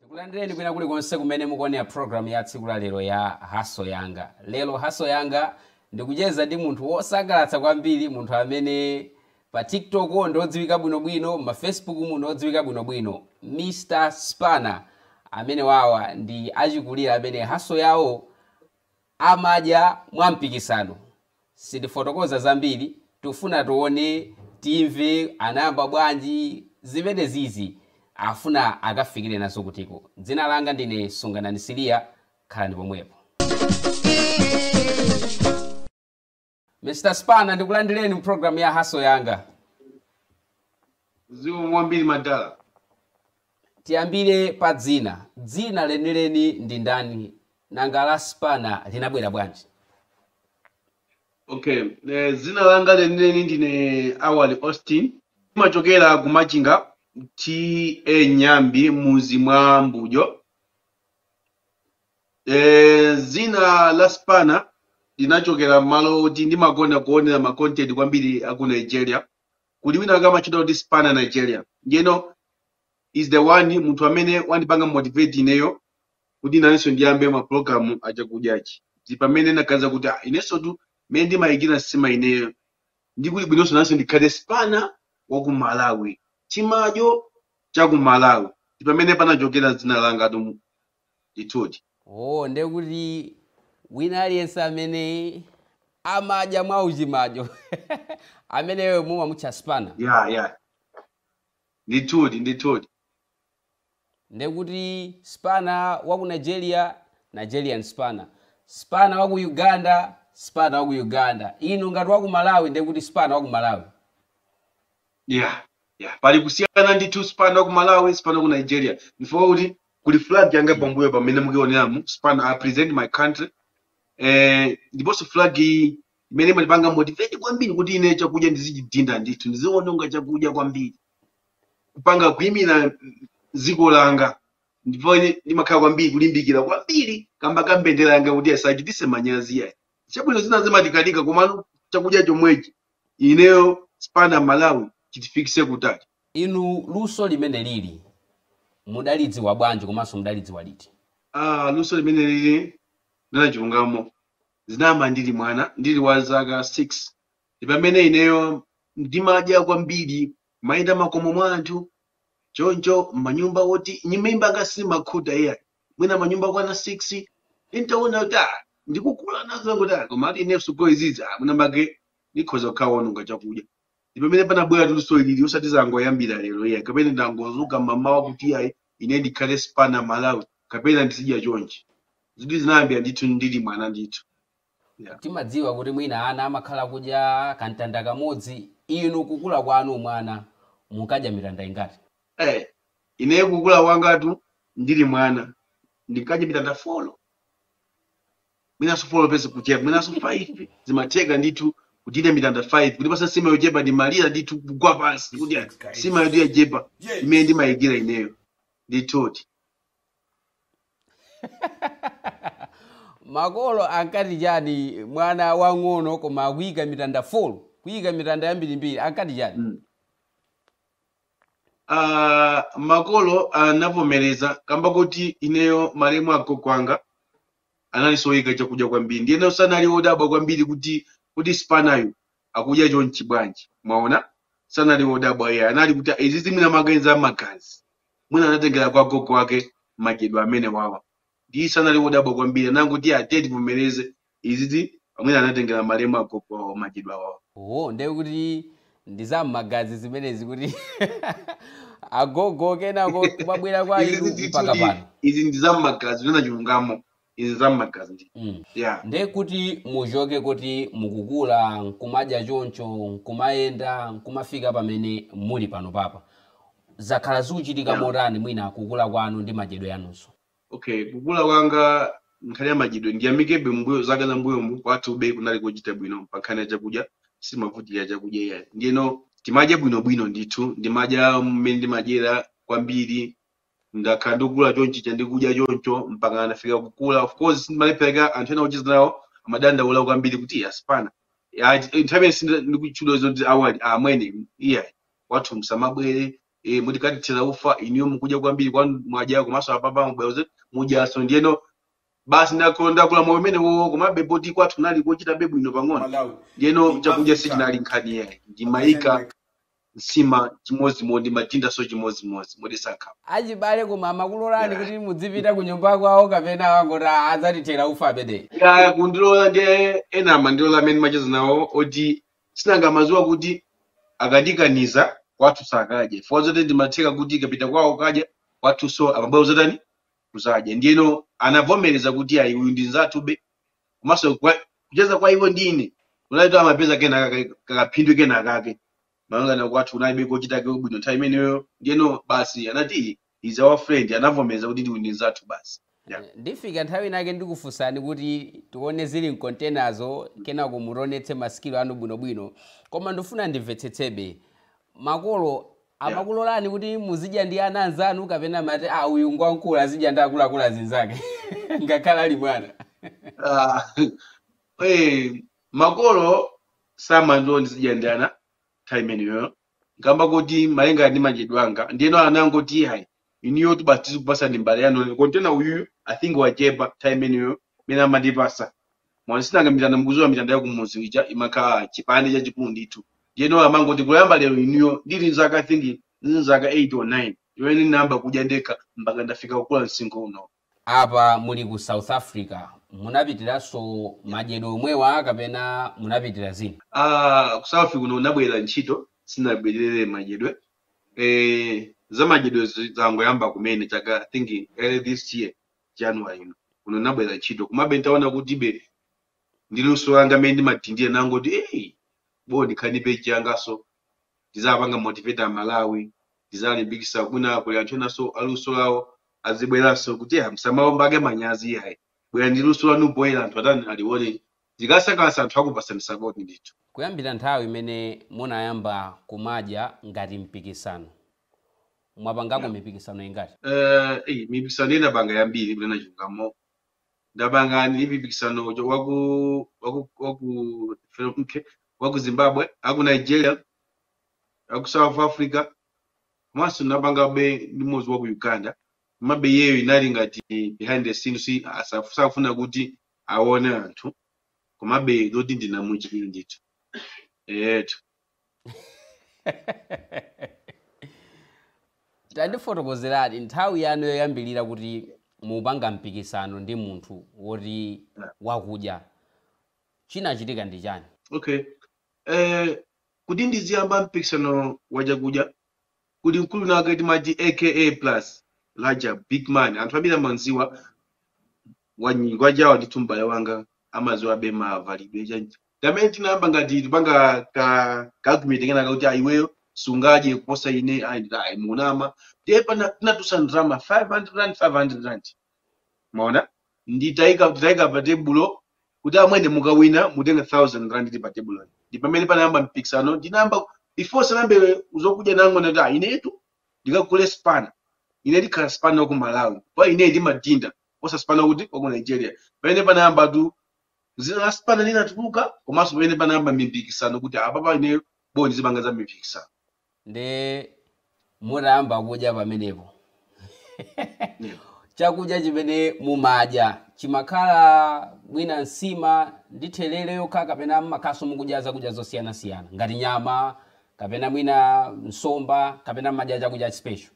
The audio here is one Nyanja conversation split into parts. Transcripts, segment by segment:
Ndikulandireni kwina kuli konse kumene mukuonera program ya tsiku la lero ya Hustle Yanga. Lero Hustle Yanga ndikucheza ndi munthu wosangalatsa kwambiri, munthu amene pa TikTok ndi odziwika bwinobwino, ma Facebook mu ndi odziwika bwinobwino, Mr Spanner. Amenewa awa ndi achikulire amene hustle yawo amadya mwa mpikisano. Sindifotokoza zambiri, tikufuna tione, timve anayamba bwanji, zimenezizi afuna akafikire nazo kutiko. Dzina langa ndine Sunganani Siliya, khalani pomwepo. Mr. Spanner ndikulandireni mu program ya Hustle Yanga. Zikomo kwambiri madala Tiyambire pa dzina. Dzina lenileni ndi ndani? Nanga la Spanner linabwera bwanji? okay eh, dzina langa lenileni ndine awali austin ndimachokera ku machinga T.A. Nyambi muzi mwa mbujo Eh, dzina la Spanner linachokera m'malo oti ndimakonda kuonera ma content kwambiri aku nigeria kuli wina wake amatchedwa kuti Spanner Nigeria ndiyeno he's the one munthu amene wandipanga motivate ineyo kuti nanenso ndiyambe ma program achakudyachi ndi pamene ndinaganiza kuti ah, inenso tu mmene ndimayikira nsima ineyo ndi kuli bwinonso nanenso ndikhale Spanner wa ku malawi chimadyo cha ku malawi ndi pamene panachokera dzina langa tu Ndithudi. Oh, ndiye kuti wina aliyense amene amadya mwauchimadyo, ameneyo mumamutcha spanner. Ya, ya. Ndithudi, ndithudi. Ndiye kuti spanner wa ku Nigeria, Nigerian spanner. Spanner wa ku Uganda, spanner wa ku Uganda. Inu ngati wa ku Malawi, ndiye kuti spanner wa ku Malawi. yeah yeah pali kusiyana ndithu Spanner wa ku malawi Spanner wa ku nigeria ndifukwa kuti kuli flag yanga mm. pambuyo pamene mukuoneramu Spanner I represent my country eh, ndiponso flag iyi imene imandipanga motivate kwambiri kuti ine chakudya ndizichidinda ndithu ndiziononga chakudya kwambiri kupanga kuimira dziko langa ndipo ine ndimakhala kwambiri kulimbikira kwambiri kamba ka mbendera yanga kuti isachitise manyazi yayi chabwino zina zimatikanika komano chakudya chomwechi ineyo Spanner Malawi chitifikise kutali. Inu luso limenelili mudalidziwa bwanji komanso mudalidziwa liti? Aaa luso limenelili ndinachulungamo zinayamba ndili mwana ndili wa zaka 6 ndipamene ineyo ndimadya kwambiri kumayenda m'makomo mwa anthu choncho mmanyumba oti nyumba yanga sindimakhuta iyayi. mwina manyumba okwana 6 ndintaona kuti ah, ndikukula nazo kuti ah, koma ati ineso ngati izizi ah, mwina make ndikhoza kukhala wononga chakudya ndi pamene panabwera luso ilili osati zangoyambira lero iyayi kapena ndangodzuka mamawa kuti ayi ine ndikhale Spanner Malawi kapena ndizidya chonchi izi zinayambira ndithu ndili mwana ndithu Yeah. Timadziwa kuti mwina ana amakhala akudya kamtanda kamodzi. Inu kukula kwanu mwana munkadya mitanda ingati? Eh, ineyo kukula kwangatu ndili mwana ndinkadya mitanda folo mwinanso folo penso kuchepa mwinanso 5 zimatheka ndithu kudya mitanda 5 kundipatsa nsima yochepa ndimalira ndithu kugwa pansi kuti nsimayo yachepa imene ndimayikira ineyo ndithudi Makolo ankati chani mwana wang'ono koma akuyika mitanda folo, kuyika mitanda yambirimbiri ankati chani? Mm. Ah, makolo anavomereza kamba kuti ineyo malemu agogo anga anali soyika chakudya kwambiri ndiyeno sanali odabwa kwambiri kuti kuti Spanner-yu akudya chonchi bwanji mwaona sanali odabwa iyayi anali kuti izizi mwina majinzi a magazi Mwina anatengera kwa gogo wake madyedwe amenewawa. Nde sanali wodabwa kwambiri anangoti ya tiye tivomereze izizi mwina anatengera malemu agogo awo madyedwe awowa. Oho nde kuti ndi za mmagazi zimenezi kuti agogo kenako kumabwera kwa inu mpaka pano. izi ndi za mmagazi kunena chilungamo. izi za mmagazi Mm. yeah nde kuti muchoke kuti mukukula nkumadya choncho nkumayenda nkumafika pamene muli pano papa zakhala zikuchitika motani mwina kukula kwanu ndi madyedwe anunso okay kukula kwanga nkhani ya madyedwe ndiyamikebe mbuyo zaka za mbuyomu kwathube kunali kochita bwino pa nkhani ya chakudya sitimavutika chakudya iyayi ndiyeno timadya bwinobwino ndithu ndimadya mmene ndimadyera kwambiri ndakhala ndikukula chonchija ndikudya choncho mpaka ndafika kukula of course sizimalephereka anthu ena ocheza nawo amadandaula kwambiri kuti "Iya, a Spanner nthawi imeneyo akunditchula zoti a Wali amwene iyayi kwathu msamabwere eh, mutithera ufa inuyo mukudya kwambiri kwanu mwadya komanso apapa mubwera mudyaso ndiyeno basi ndakula ndakula moyo umenewo komabe poti kwathu kunali kochitabe bwino pang'ono ndiyeno chakudya sichinali nkhani yayi ndimayika nsima chimodzimodzi ndimatindaso chimodzimodzi moti sakhala achibale koma amakulolani kuti mudzipita kunyumba kwawo kapena angoti "Ah, adzatithera ufa amenewa ya kundilola nde ena amandilola amene timacheza nawo oti sinanga amaziwa kuti akandikaniza kwathu sakadya chifukwa zoti zimatheka kuti ndikapita kwawo kukadya kwathu so amabwera kuzatani kuzadya ndiyeno anavomereza kuti ayi uyu ndi nzathu be komanso kwa- kucheza kwa iwo ndi ine kunali kuti amapeza kena kake- kakaphindu kena kake malingana kwathu kunali kochitako bwino nthawi imeneyo ndiyeno basi anati is our friend anavomeza kuti uyu ndi mzathu basi Yeah. Eh, ndifika nthawi inake ndikufunsani kuti tione zili mkontenazo kenako mutionetse masikilo anu bwinobwino koma ndifuna ndimvetsetsebe makolo Yeah. amakulolani kuti muzidya ndi ana anzanu kapena amati a uyu ngwankulu azidya ndi akuluakulu azinzake ngakhale ali mwana Ah, eh, makolo samandilola ndizidya ndi ana nthawi imeneyo ngamba kuti malinga ndi madyedwe anga ndiyeno anangoti hayi inuyotu basi tizikupasani mbale yanu yanu. kontena uyuyu i think wachepa nthawi imeneyo imene amandipasa mwina sinanga mitanda mukudziwa mitanda yakumudzi ija imakhala chipande chachikulu ndithu ndiyeno amangoti kuyamba lero inuyo ndili nzaka i think nzaka 8 or 9 imene ndinayamba kudya ndekha mpaka ndafika kukula msinkhu uno Apa muli ku South Africa munapitilizaso madyedwe omwewa kapena munapitira zina? Aaa ku South kuno ndinabwelera ntchito sinabwelere madyedwe eeh za madyedwe zangoyamba kumene chaka I think early this year January ino kuno ndinabwelera ntchito komabe ntaona kuti be ndi luso langa mmene ndimadhindira nangoti eeh boh ndikhale ndi page yangaso. ndizawapanga motivate a Malawi, ndizawalimbikisa mwina kuli anthu enaso a luso lawo azibweraso kuti ya musamaope manyazi iyayi bwerani ndi luso lanu poyera anthu atani aliwone zikasangalasa anthu akupasani support ndithu. Kuyambira nthawi imene munayamba kumadya ngati mpikisano, mwapangako Yeah. mipikisano ingati? Eh, eyi mipikisano ndinapanga yambiri kunena chilungamo ndapanga mipikisano uja waku waku waku okay, waku zimbabwe aku nigeria aku south africa komanso napangabe ndi mmodzi waku uganda komabe iyeyo inali ngati behind the scenes asaf- safuna kuti aone anthu komabe zoti ndinamuchita ndithu etu Tandifotokozerani nthawi yanu yoyambilira kuti mukupanga mpikisano ndi munthu woti wakudya. Chinachitika ndi chani? Okay. Eh, kuti ndiziyamba mpikisano wa chakudya, kuli mkulu wina wake timati Aka Plus Rajab big man anthu ambiri amamdziwa wanyi- wachawa ndithu m'bale wanga amadziwabe mavalidwe chani ndi amene tinayamba ngati tipanga ka kakomedi kenaka kuti a iweyo sungadye kuposa ine ayi nditha ayi munama ndiye pana tinatulutsa ndrama 500 rand 500 rand mwaona nditaika nditaika pa tebulo kuti amwene mukawina mutenga 1000 rand ndi pa tebulo ndi pamene panayamba mpikisano ndinayamba before sanambe zokudya nangona kuti "Ah, inetu ndikagule spana ine ndikhala spana wa ku malawi pa ine ndimadinda kuposa spana kuti wa ku nigeria pamene panayamba tu zina la spana linatuluka komanso pamene panayamba mipikisano kuti apapa ine bo ndizipanga za mipikisano nde mutayamba kudya pamenepo chakudya chimene mumadya chimakhala mwina nsima ndi thelele yokha kapena mmakhalanso mukudya zakudya zosiyanasiyana ngati nyama kapena mwina nsomba kapena mmadya chakudya special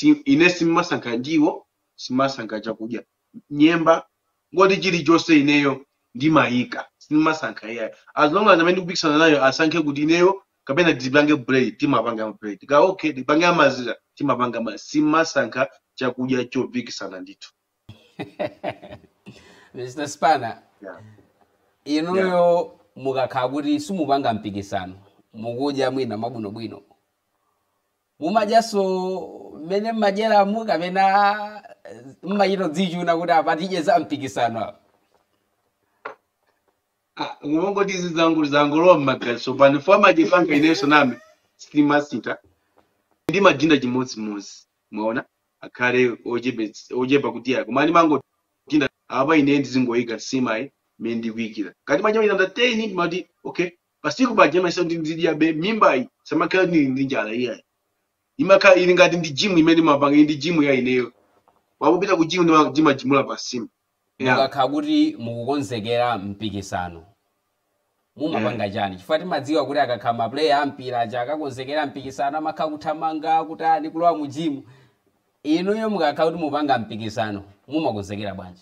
Eh, ine simmasankha ndiwo, simmasankha chakudya. nyemba ngoti chilichonse ineyo ndimayika simasankha iyayi as long as amene ndikupikisana nayo asankhe kuti ineyo kapena tipange bread timapanga bread ka okay tipange amazira timapanga ma- simasankha chakudya chopikisana ndithu mr spana yeah. yeah. inuyo mukakhala kuti simupanga mpikisano mukudya mwina mwabwinobwino mumadyanso mmene mmadyeramu kapena mmachita kudzichuna kuti apa tidye za mpikisano apa? Ah, kungoti izi zangu- zangolowa m'magazi pano chifukwa amachipanga inenso name sitimasita ndimadinda chimodzimodzi mwaona akhale ochepe- ochepa kuti ayi koma ndimangodinda apa ine ndizingoyika nsimayi mmene ndikuyikira ngati machita 10 ndimati okay pansima paja imaisa kuti ndidyabe mmimbayi simakhala kuti ndili ndi njala iyayi imakhala ili ngati ndi jimu imene mmapanga ija ndi jimu ya ineyo osapita ku jimu ndima- ndimajimula pansima yeah. mukakhala kuti mukukonzekera mpikisano mumapanga chani chifukwa timadziwa kuti akakhala mapuleya a mpira aja akakonzekera mpikisano amakhala kuthamanga kutani kulowa mu jimu inuyo mukakhala kuti mupanga mpikisano mumakonzekera bwanji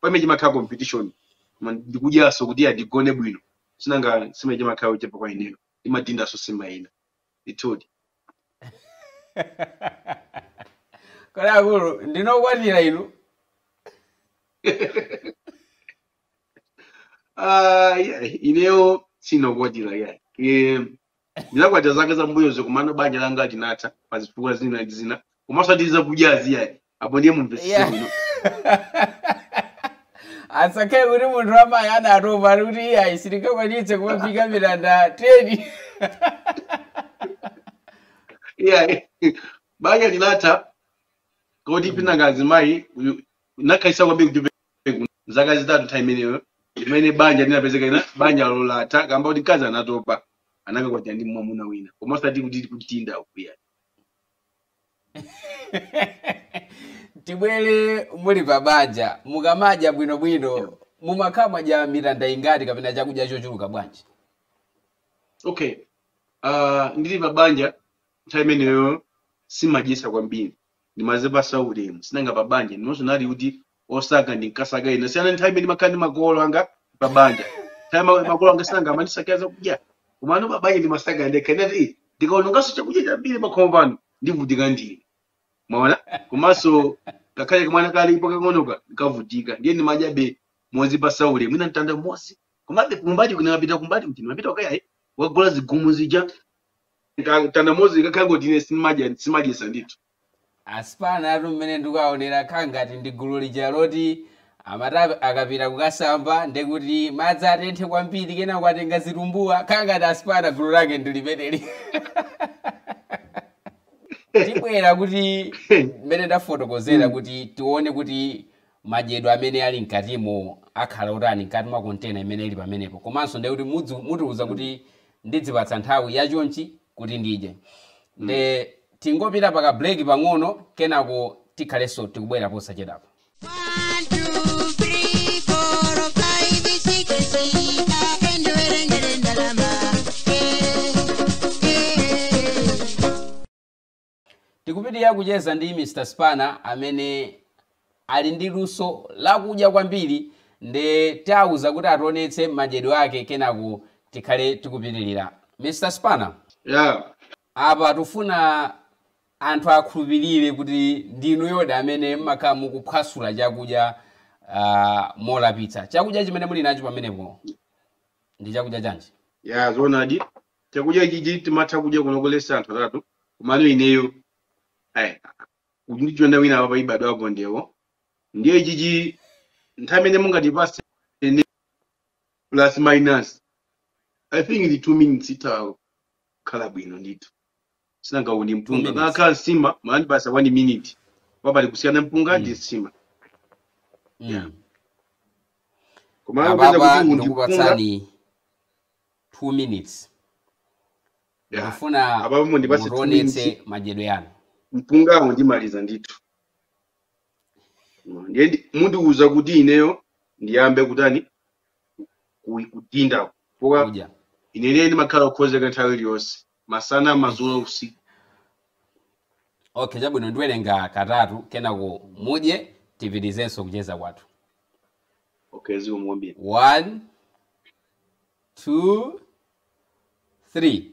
pamene chimakhala competition koma ndikudyaso kuti ndigone bwino sinanga nsima ija imakhala yochepa kwa ineyo ndimadindaso nsima ina ndithudi kodi akulu ndinu okwatira inu Ah, yeah, ineyo sinokwatira yeah. Eh, ndinakwatira zaka zambuyozo komano banja langa linatha pa zifukwa zina ndi zina komanso osati zakudyazi iyayi apo ndiye mumvesese Yeah. bwino asakhale kuti munthu wamayi anatopa ali kuti iyayi sindingakwanitse kumaphika milanda 10 iyayi banja linatha koti penangazi mayi uyu- takhalitsa kwambiri kuti kuno zaka zitatu nthawi imeneyo imene banja linapezeka ine banja langa latha kamba kuti mkazi anatopa anakakwatira ndi mwamuna wina koma osati kuti kudinda ukudya tibwere muli pa banja mukamadya bwinobwino mumakhala mwadya mitanda ingati kapena chakudya chochuluka bwanji okay uh, ndili pa banja nthawi imeneyo simadyetsa kwambiri ndimazipasa ulemu sinanga pa banja ndiponso nali kuti osaka ndinkasaka ine kusiyana nthawi imene ndimakhala ndi makolo anga pa banja nthawi ma- makolo anga sinanga amandisakira zakudya komano pa banja ndimasaka ndekha nde ndati ndikaononganso chakudya chambiri pakhomo pano ndivutika ndine mwaona komanso ngakhale kamwana kalipo kang'onoka kakavutika ndiye ndimadyabe mozipatsa ulemu mwina mtanda umodzi komabe kumbali umapita kumbali kuti umapita okaini wagula zigumu zija Nka- mtanda umodzi ndikangoti ine simadya simadyetsa ndithu A Spanatu mmene ndikuwaonera khala ngati ndi gulu lija loti amati akapita kukasamba ndekuti madzi atenthe kwambiri kenako atenga zitumbuwa khala ngati a Spana gulu lake ndi limeneli tabwera kuti mmene ndafotokozera Mm. kuti tione kuti madyedwe amene ali mkatimo akhala otani mkati mwa kontena imene ili pamenepo komanso ndekuti mudzi- mutiuza kuti ndidzipatsa nthawi yachonchi kuti ndidye nde tingopita paka break pang'ono kenako tikhalenso tikubwera posachedwapa Tikupitirira kucheza ndi Mr Spana amene ali ndi luso la kudya kwambiri nde tawauza kuti ationetse madyedwe ake kenako tikhale tikupitirira. Mr Spana, Yeah. apa tikufuna anthu akhulupirire kuti ndi inuyodi amene mmakhala mukuphwasula chakudya ah, molapitsa. Chakudya chimene muli nacho pamenepo ndi chakudya chanji? Yeah, zoonadi. chakudya ichichi timatha kudya kunokolesa anthu atatu komano ineyo ayi akandijoina wina apa ibadwa apo ndewo ndiye ichichi nthawi imene mungatipase ine plus minus i think ndi two minutes itha kukhala bwino ndithu sinanga uwu ndi mpunga minutes. ikanakhala nsima mukanandipatsa 1 minute wa pali kusiyana mpunga ndi Mm. nsima yeah. Mm. koma kupeza kuti apapa uwu ndi mpunga ndikupatsani 2 minutes yeah. ndikufuna apapa mundipase 2 minutes mutionetse madyedwe anu mpungawo ndimaliza ndithu Mm, ndiye ndi- mundiuza kuti ineyo ndiyambe kutani ku- kudinda pa kudya ineyo ndimakhala okonzeka nthawi iliyonse masana madzulo usiku okay chabwino ndiwerenga katatu kenako mudye tipitirizenso kucheza kwathu okay zikomo kwambiri one two three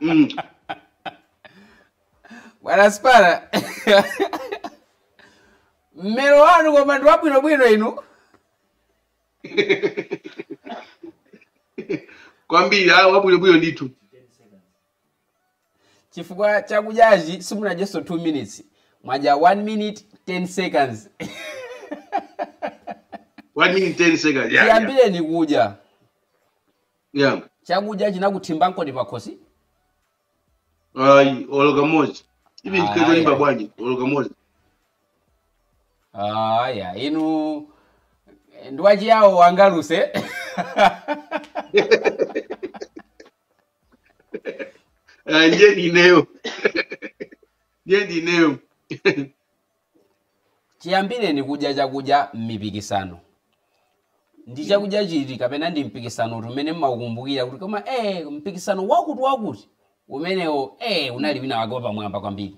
Mm. bwana spana mmero wanu koma ndi wabwinobwino inu kwambiri ayi wabwinobwino ndithu chifukwa chakudyachi simunadyenso 2 minutes mwadya 1 minute 10 seconds one minute 10 seconds yeah, yeah. chiyambireni kudya yeah. chakudya chinakuthimba nkoni pakhosi ayi olo kamodzi even Ayi. ndikatolimba bwanji olo kamodzi aya inu ndiwachiyawo wangaluse Ah, ndiye ndineyo ndiye ndineyo chiyambireni kudya chakudya m'mipikisano ndi chakudya chiti kapena ndi mpikisano uti umene mmaukumbukira kuti koma eh mpikisano wakuti wakuti umenewo eh unali wina wake wapamwamba kwambiri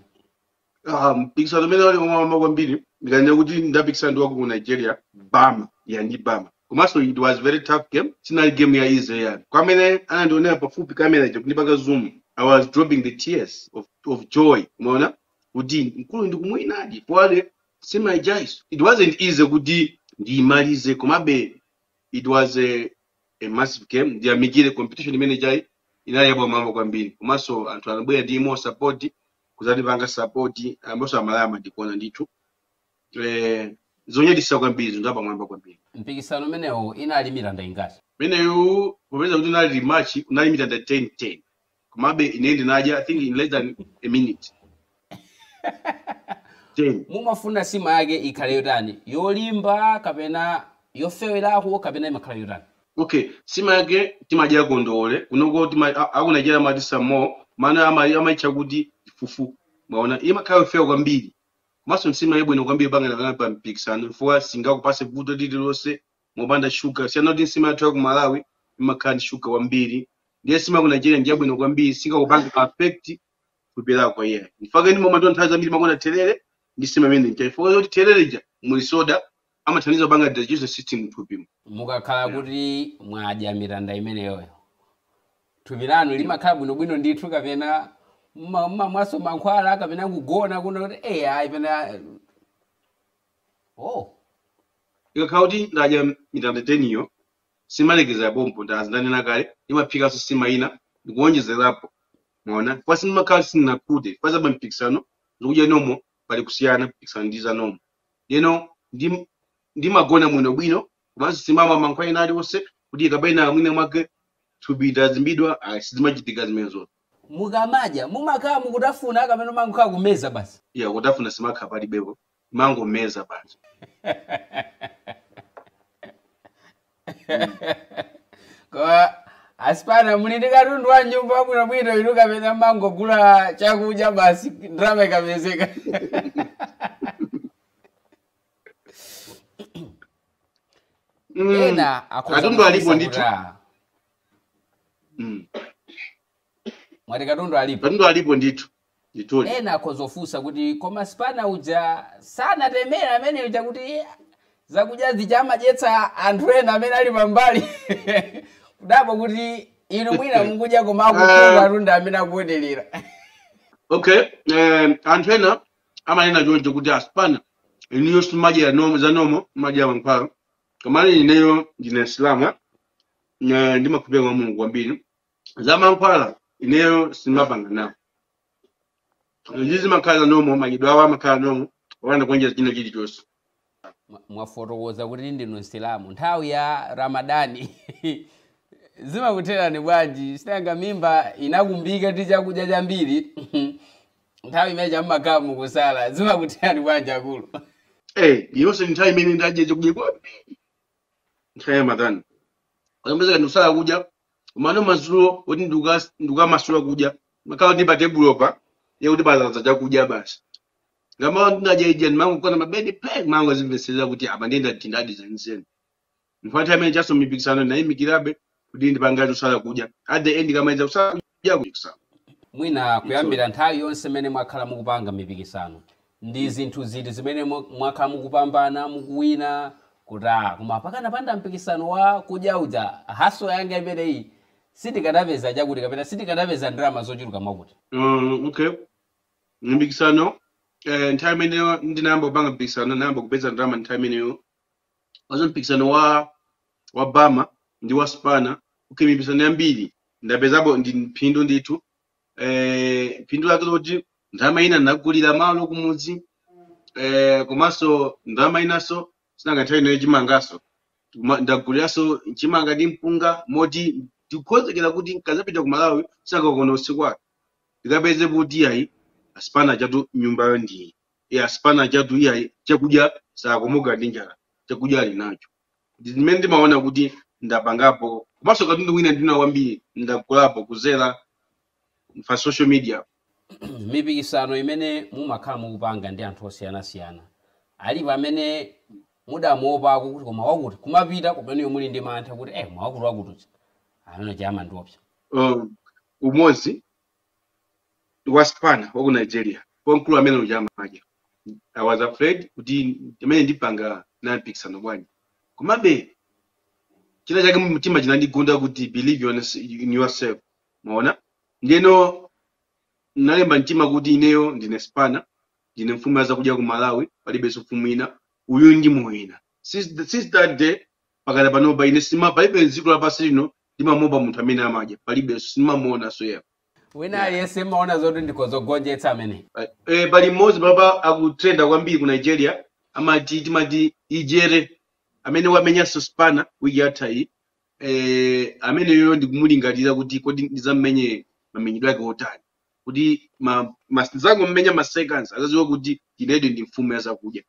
Ah, mpikisano umene wali wamwamba kwambiri ndikanena kuti ndapikisana ndi waku nigeria bama ya ndi bama komanso it was very tough game sinali game ya easy yani kwa amene anandionera pafupi kamera ija kundipanga zoom i was dropping the tears of, of joy umaona kuti mkulu ndikumwinadi poale simaijice it wasn't easy kuti ndiyimalize komabe it was a, a massive game ndiyamikire competition imene ija inali yapamwamba kwambiri komanso anthu anabwera ndi more support kuzatipanga support amboso amalawi amatikonda ndithu eh, zonyadisa kwambiri zinthu zapamwamba kwambiri mpikisano umenewo inali mitanda ingati meneyu popeza kuti unali rematch unali mitanda 10 10 komabe ine ndinadya i think in less than a minute 10 mumafuna sima yake ikhale yotani yolimba kapena yofewerako kapena imakhala yotani Okay sima yake timadya kondowole kunoko tima a- aku Nigeria amati samo mana ama amaitcha kuti fufu mwaona imakhala yofewa kwambiri komanso nsima yabwino kwambiri pangana kana pa mpikisano chifukwa singakupase vuto lililonse mopanda shuga siyana kuti nsima yathu ya ku Malawi imakhala ndi shuga wambiri ndiye sima ku Nigeria ndi yabwino kwambiri singakupanga affect thupi lako iyayi nchifukwa chake ndi momwe nthawi zambiri ndimakonda therere ndi sima imene ija chifukwa choti therere ija muli soda amathandiza kupanga digestive system mthupimu mukakhala Yeah. kuti mwadya mitanda imeneyoyo thupi lanu limakhala bwinobwino ndithu kapena mma- mma- mwaso mankhwala kapena kugona kuno kuti eh ayi pena oh ikakhala kuti ndadya mitanda 10 iyo sindimalekezera pompo ndandinanena kale ndimaphikanso nsima ina ndikuwonjezerapo mwaona kwa sindimakhala sindinakhute kwa za mpikisano ndi kudya nomo pali kusiyana mpikisano ndi za nomo ndeno ndi ndimagona bwino bwino komanso simamwa mankhwala ena aliwonse kuti kapena mwina mwake thupi ndadzimbidwa ayi sizimachitika zimenezozo mukamadya mumakhala mukutafuna kapena mangokhala kumeza basi ya kutafuna simakhala palibepo mangomeza basi Mm. koma asipana muli ndi katundu wa nyumba wabwinobwino inu kapena mangogula chakudya basi ndalama ikapezeka katundu alipo ndithu mwati katundu alipo katundu alipo ndithu Ndithudi. Ena akhoza kufunsa kuti, Koma Sipana uja sanatemere amene uja kuti zakudya zija amadyetsa anthu ena amene ali pambali? Kudabwa kuti inu mwina mukudya koma Eh, akukhuta anthu ena amene akuonerera. okay eh, anthu ena amanena choncho kuti asipana inuyo simadya nomo za nomo madya mankhwala komano ineyo ndine msilamu eh, ndimakhulupirira mwa mulungu kwambiri za mankhwala ineyo simapanga nawo zizi zimakhala nomo madyedwewa amakhala nomo opanda kuonjeza china chilichonse Mwa- mwafotokoza kuti ndinu msilamu nthawi ya ramadani zimakutherani bwanji sinanga mimba inakumbika ndi chakudya chambiri nthawi imene mumakhala mukusala zimakutherani bwanji akulu Eh, yonse nthawi imene ndadya chakudya kwambiri nthawi ya ramadhani kapena kuti kusala kudya komano madzulo kuti ndikukas- ndikukamasula kudya ndimakhala kuti patebulopa ndiye kuti padzadza chakudya basi ngati mmene ndinadya ija ndimangogona pabedi ndimangodzimvetserera kuti apa ndiye ndadindadi zenizeni nthawi imeneyonso mipikisano ndinayimikiratu kuti ndipange chosala kudya at the end ndikamaliza kusala kudya ya kuchikisano. Mwina kuyambira nthawi yonse imene mwakhala mukupanga mipikisano, ndi zinthu ziti zimene mwa- mwakhala mukupambana, mukuwina kuti ah, koma pakanapanda mpikisano wa kudya uja house yanga imeneyi sindikadapeza chakuti kapena sindikadapeza ndalama zochuluka mwakuti. Uh, okay. Mpikisano eh, nthawi imeneyo ndinayamba kupanga mpikisano ndinayamba kupeza ndalama nthawi imeneyo Pa za mpikisano wa wa Bama ndi wa Spana okay, mipikisano yambiri ndapezapo ndi phindu ndithu eh, phindu lake loti ndalama ina ndagulira malo kumudzi eh, komanso ndalama inanso sinanga nthawi inoyo chimangaso Kuma- ndaguliranso chimanga ndi mpunga moti ndikukonzekera kuti nkazapita ku malawi sindikagona usiku wake ndikapeze kuti ayi a Spana chatu nyumbayo ndiyi ya Spana chatu iyayi chakudya sakomoka ndi njala chakudya ali nacho Ndi zimene ndimaona kuti ndapangapo komanso katundu wina ndi wina wambiri ndagulapo kuzera pa social media mipikisano imene mumakhala mukupanga ndi anthu osiyanasiyana alipo amene mudamuopako kuti koma wakuti kumapita kumeneko muli ndi mantha kuti eh mwakuti wakututsa amene aja amandiopsa um, umodzi wa Spana waku Nigeria wamkulu amene uja amake i was afraid kuti amene ndipanga naye mpikisano bwanji komabe china chake mtima chinandigunda kuti believe in yourse- in yourself maona ndiyeno nalimba mtima kuti ineyo ndine spana ndine mfumu ya zakudya ku malawi palibenso mfumu ina uyu ndimuwina since, the- since that day mpakana panopa ine sima palibe m'dziko lapansi lino ndimamuopa munthu amene amadya palibe simamuona so yeah wina yeah aliyense mmaona zoti ndikhoza ogonjetsa amene Right. Eh, pali mmodzi apapa akutrenda kwambiri ku nigeria amati timati ijere amene wamenyanso Spana wiki yatha iyi eh, ameneyo ndikumulingalira kuti kodi ndizammenye mamenyedwe ake otani kuti ma, ma, ndizangommenya ma seconds azaziwe kuti ineyo ndi mfumu ya zakudya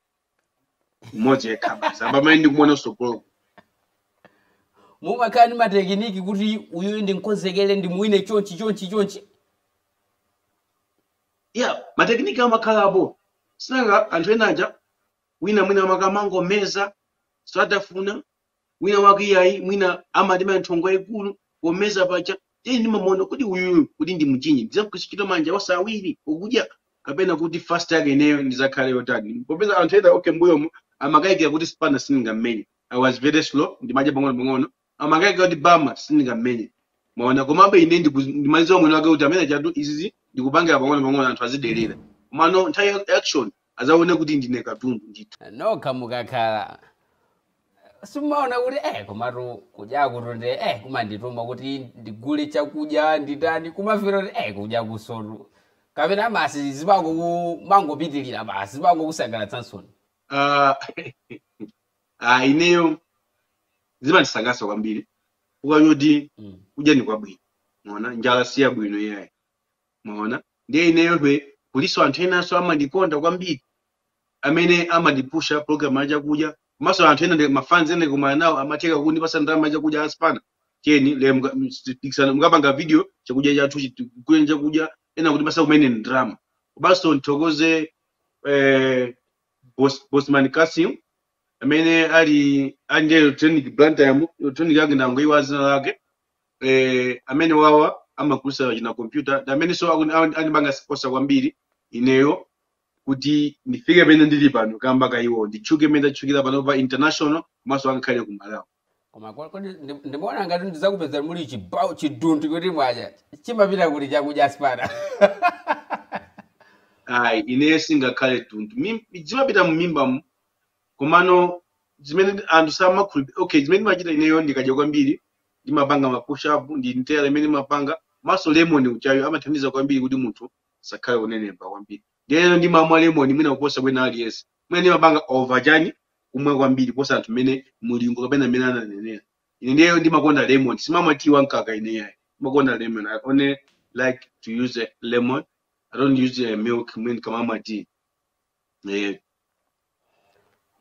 mmodzi yekha basi apa amene ndikumuona kutsogoloko mumakhala ndi matekiniki kuti uyuyu ndimkonzekere ndimuwine chonchi chonchi chonchi ya matekiniki amakhalapo sinanga anthu ena aja wina mwina amakamangomeza osatafuna wina wake iyayi mwina amatema nthongo yayikulu pomeza paja tiye ndimamuona kuti uyuyu kuti ndimchinye ndizagwiritsa ntchito manja onse awiri okudya kapena kuti fast yake ineyo ndizakhale yotani popeza anthu ena okay mbuyomo amakayikira kuti spana sindingammenye i was very slow ndimadya pang'ono pang'ono amakayikira kuti bama sindingammenye maona komabe ine ndiku- ndimadziwa mwini wake kuti amwene chatu izizi ndikupangira pang'ono pang'ono anthu azidelera komano nthawi ya action azaone kuti ndine katundu ndithu nokha mukakhala simumaona kuti eh komatu kudya kutu nde eh kumandituma kuti ndigule chakudya nditani kumafika kuti eh kudya ukunsotu kapena basi zimango mangopitirira basi zimango kusangalatsani Ah, ah, ineyo zimandisangalatsa kwambiri chifukwa choti Mm. kudya ni kwabwino maona njala si yabwino iyayi Mwaona? Ndiye ineyo hwe kulinso anthu enanso amandikonda kwambiri amene amandipusha program ya chakudya komanso anthu ena ndi mafans ena ndikumana nawo amathekanso kundipasa ndalama ya chakudya a Spanner chani le muka- ms- pikisana mukapanga video chakudya chathu chitu- kugula chakudya ena kundipasa kumene ndalama komanso ndithokoze eh, Bos- bosman kasim amene ali ali ndi electronic blantyre mu- electronic yake ndangoiwa dzina lake eh, amenewawa amagulitsa china kompyuta ndi amenenso aku- a- andipanga sponsor kwambiri ineyo kuti ndifike pamene ndili pano kamba ka iwo nditchuke pamene ndatchukira pano pa international komanso angakhale ku malawi koma kwa- kodi ndi- ndimaona ngati ndizakupeza muli chibawo chiduntu kuti mwadya chimapita kuti chakudya Spanner ayi ineyo singakhale tuntu Mim- zimapita mumimbamu komano zimene anthu samakhulupirira okay zimene ndimachita ineyo ndikadya kwambiri ndimapanga ma push up ndi ntela imene ndimapanga komanso lemon ujayo amathandiza kwambiri kuti munthu asakhale onenepa kwambiri ndiyeno ndimamwa lemon mwina kuposa wina aliyense mwina ndimapanga over chani kumwa kwambiri kuposa anthu mmene mulingo kapena mmene ananenera ine ndiyeyo ndimakonda lemon sindimamwa tea wa mkaka ineyo ndimakonda lemon i only like to use a lemon i don't use a milk mwina ndikamamwa tea eh,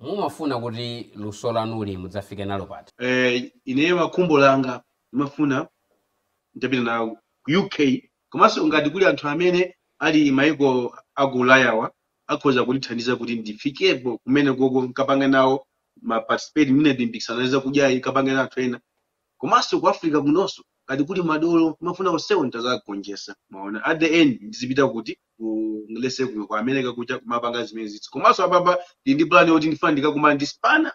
Mumafuna kuti luso lanuli mudzafike nalo pati? Eh, ineyo khumbo langa ndimafuna nditapita na ku UK komanso ngati kuli anthu amene ali maiko a ku Ulayawa akhoza kundithandiza kuti ndifikepo kumenekoko nkapange nawo ma participate mwina ndi mipikisano ya zakudyayi nkapange na anthu ena. Komanso ku Africa kunonso ngati kuli madolo ndimafuna onsewo nditazawagonjesa mwaona at the end ndizipita kuti ku USA kuno ku America kuja kumapanga zimenezizi komanso apapa ndili ndi plan yoti ndifuna ndikakumane ndi Spanner,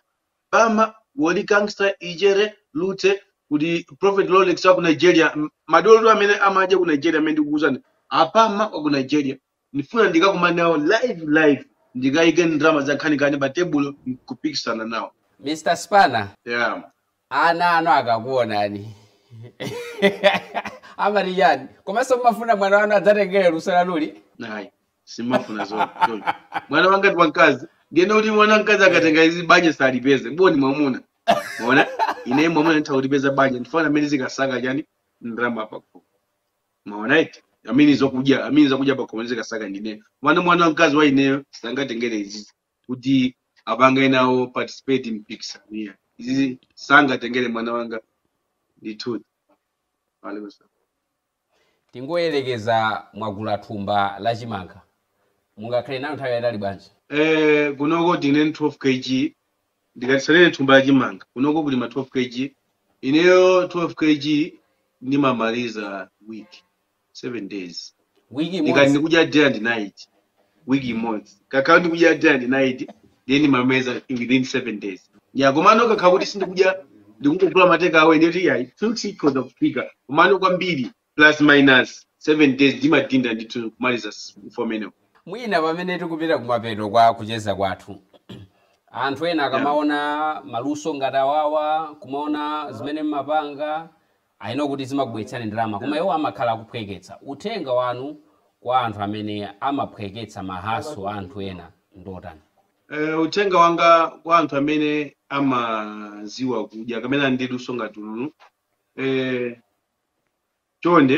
Apama, Woli Gangsta, Ichere, Lutse, kuti Prophet Rolex wa ku Nigeria, madolotu amene amadya ku Nigeria amene ndikukuuzani, Apama wa ku Nigeria, ndifuna ndikakumane nawo live live ndikaike ndalama za nkhaninkhani pa tebulo nkupikisana nawo Mr. Spanner, yeah. ana anu akakuonani amati chani komanso mumafuna mwana wanu adzatengere luso lanuli ayi sindimafuna zo zo. mwana wanga ndi wamkazi ndiyene kuti mwana wamkazi akatenga izi banja salipeza boni mwamuna mwaona ine mwamuna nditha kulipeza banja ndi ifeyo amene tizikasaka chani ndalama pakho mwaona eti amene zakudya amene zakudya pakhomo ndizikasaka ndine mwana mwana wamkazi wa ineyo sangatengere izizi kuti apange nawo participate mipikisano ya izizi sangatengere mwana wanga ndithu Alaikum salam. tingoyerekeza mwagula thumba la chimanga mungakhale nayo nthawi yayitali bwanji Eh, kunoko tine 12 kg ndikati ndinene thumba la chimanga kunoko kuli ma 12 kg ineyo 12 kg ndimamaliza week 7 days Wiki ndikati imodzi. ndikudya day and night week imodzi ndikakhala ndikudya day and night then ndimamaliza within 7 days ya komano ndikakhala kuti sindikudya ndikungogula ma takeaway ndiyoti ya chonchi ikhoza kufika komano kwambiri plus minus 7 days ndimadinda ndithu kumaliza s- form ineyo mwina pamene tikupita kumapeto kwa kucheza kwathu anthu ena yeah. akamaona maluso ngati awawa kumaona zimene mmapanga inu kuti zimakubweretsani ndalama koma iwo amakhala akuphweketsa uthenga wanu kwa anthu amene amaphweketsa maluso a anthu ena ndotani Eh, uthenga wanga kwa anthu amene amaziwa kudya kapena ali ndi luso ngati ili eh, chonde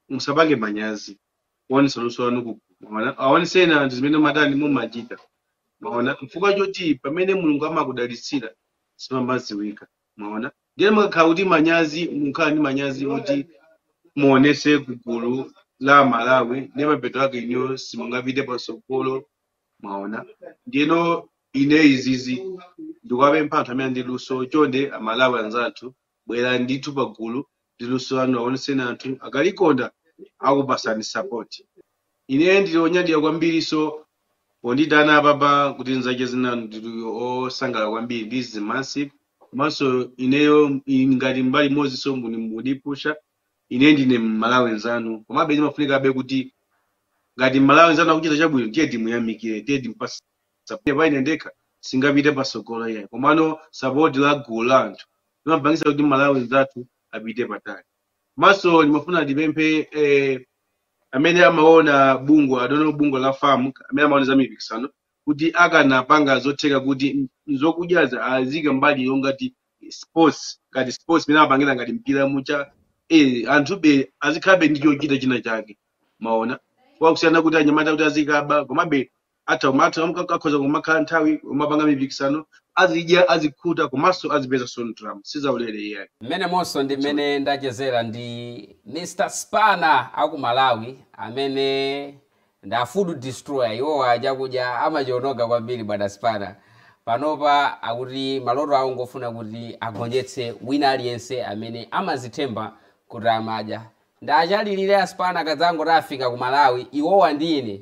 musapange manyazi kuonesa luso lanu mwaona aonetseni anthu zimene matani mumachita mwaona chifukwa choti pamene mulungu amakudalitsira pake simamadziwika mwaona ndiye mukakhala kuti manyazi mukhala ndi manyazi oti muonese ku gulu la amalawi ndiye mapeto ake inuyo simungapite patsogolo mwaona ndiyeno ine izizi ndikuwapempha anthu amene ndi luso chonde amalawi anzathu bwerani ndithu pagulu ndi luso lanu awonetseni anthu akalikonda akupasani support ine ndili onyadira kwambiri so pondiitana apapa kuti ndizacheze nanu ndili osangala kwambiri this is massive komanso ineyo i- ngati mbali imodzi so muni- mundipusha ine ndine mmalawi nzanu komabe zimafunikabe kuti ngati mmalawi nzanu akuchita chabwino tiye timuyamikire tiye timpase Support paine ndekha sindingapite patsogolo iyayi komano support la gulu la anthu limapangitsa kuti Malawi mzathu apite patali. Komanso ndimafuna ndipemphe eh, amene amaona bungwe adono bungwe la FAM amene amaona za mipikisano kuti akanapanga zotheka kuti m- zokudyazi azike mbali yongati sports ngati sports mmene amapangira ngati mpira mujamu eh, anthube azikhalabe ndi chochita china chake mwaona kusiyana kuti anyamata kuti azikaba komabe atha kumatha kumka- akhoza kumakhala nthawi kumapanga mipikisano azidya azikhuta komanso azipeza so ndalama sizaulere iyayi Mmenemonso ndi That's all. mmene ndachezera ndi Mr Spana aku Malawi amene ndi a food destroyer iwowa chakudya amachiononga kwambiri bwana Spana. Panopa akuti maloto awo ngofuna kuti agonjetse wina aliyense amene amazithemba kuti amadya. Ndakulankhulirani a Spana kadzangoti afika ku Malawi iwowa ndi ine